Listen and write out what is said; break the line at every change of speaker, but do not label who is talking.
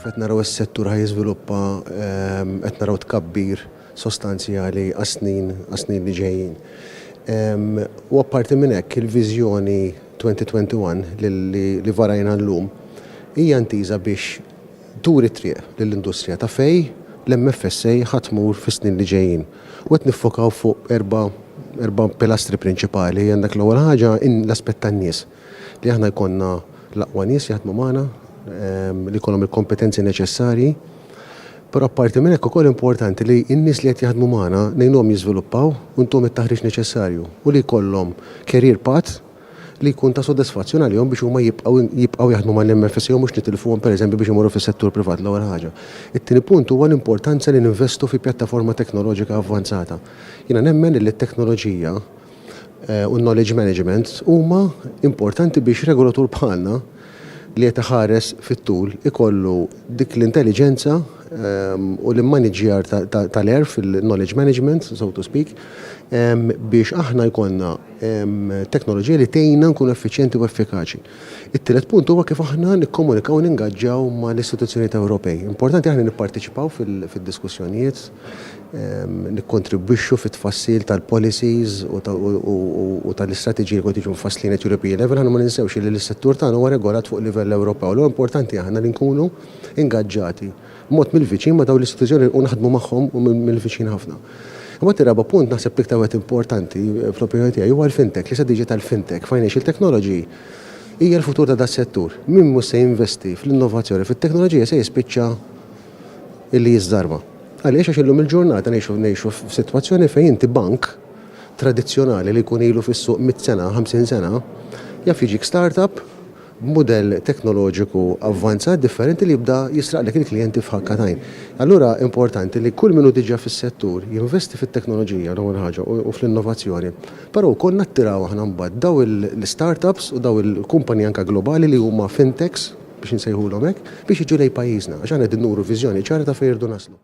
Kif qed naraw is-settur ħa jiżviluppa qed naraw tkabbir sostanzjali għas-snin għas-snin li ġejjin. U apparti minn hekk il-viżjoni 2021 li varajna llum hija intiża biex turi t-triq lill-industrija ta' fejn l-MFSA ħa tmur fis-snin li ġejjin. U qed niffokaw fuq erba' erba' pilastri prinċipali. Għandek l-ewwel ħaġa l-aspett tan-nies. li aħna jkollna l-aqwa nies jaħdmu magħna, li jkollhom il-kompetenzi neċessarji. Però apparti minn hekk ukoll importanti li n-nies li qed jaħdmu magħna ngħinuhom jiżviluppaw u ntuhom it-taħriġ neċessarju u li jkollhom career path li jkun ta' sodisfazzjon għalihom biex huma jibqgħu jibqgħu jaħdmu mal-MFSA u mhux nitilfuhom pereżempju biex imorru fis-settur privat l-ewwel ħaġa. It-tieni punt huwa l-importanza li ninvestu fi pjattaforma teknoloġika avvanzata. Jiena nemmen illi t-teknoloġija eh, u knowledge management huma importanti biex regolatur bħalna li qed iħares fit-tul ikollu dik l-intelligenza ehm, u l-immaniġjar tal-erf fil-knowledge management, so to speak, ehm, biex aħna jkollna ehm, teknoloġija li tejna nkun effiċjenti u effikaċi. It-tielet punt huwa kif aħna nikkomunikaw u ningaġġaw mal-istituzzjonijiet Ewropej. Importanti li aħna nipparteċipaw fid-diskussjonijiet, nikkontribwixxu fit-tfassil tal-policies u tal-istrateġiji li qed jiġu mfasslin at European level. Aħna ma ninsewx li s-settur tagħna huwa regolat fuq livell Ewropew, allura importanti aħna li nkunu ingaġġati. mod mill-viċin ma' dawn l-istituzzjoni u naħdmu magħhom mill-viċin ħafna. Imbagħad ir-raba' punt naħseb l-iktar wieħed importanti fl-opinjoni tiegħi huwa l-fintech, l-istrateġija tal-fintech, financial technology hija l-futur ta' das-settur. Min mhux se jinvesti fl-innovazzjoni fit-teknoloġija se jispiċċa li jiżżarma. Għaliex? Għax illum il-ġurnata ngħixu ngħixu f'sitwazzjoni fejn inti bank tradizzjonali li jkun ilu fis-suq mitt sena, ħamsin sena, jaf jiġik startup b'mudell teknoloġiku avvanzat differenti li jibda jisraqlek il-klijenti f'ħakka t'għajn. Allura importanti li kull min hu diġà fis-settur jinvesti fit-teknoloġija l-ewwel ħaġa u fl-innovazzjoni, però wkoll nattiraw aħna mbagħad dawn il-startups u dawn il-kumpaniji anke globali li huma fintechs, biex insejħulhom hekk, biex jiġu lejn pajjiżna, għax aħna qegħdin nuru viżjoni ċara ta' fejn irridu naslu.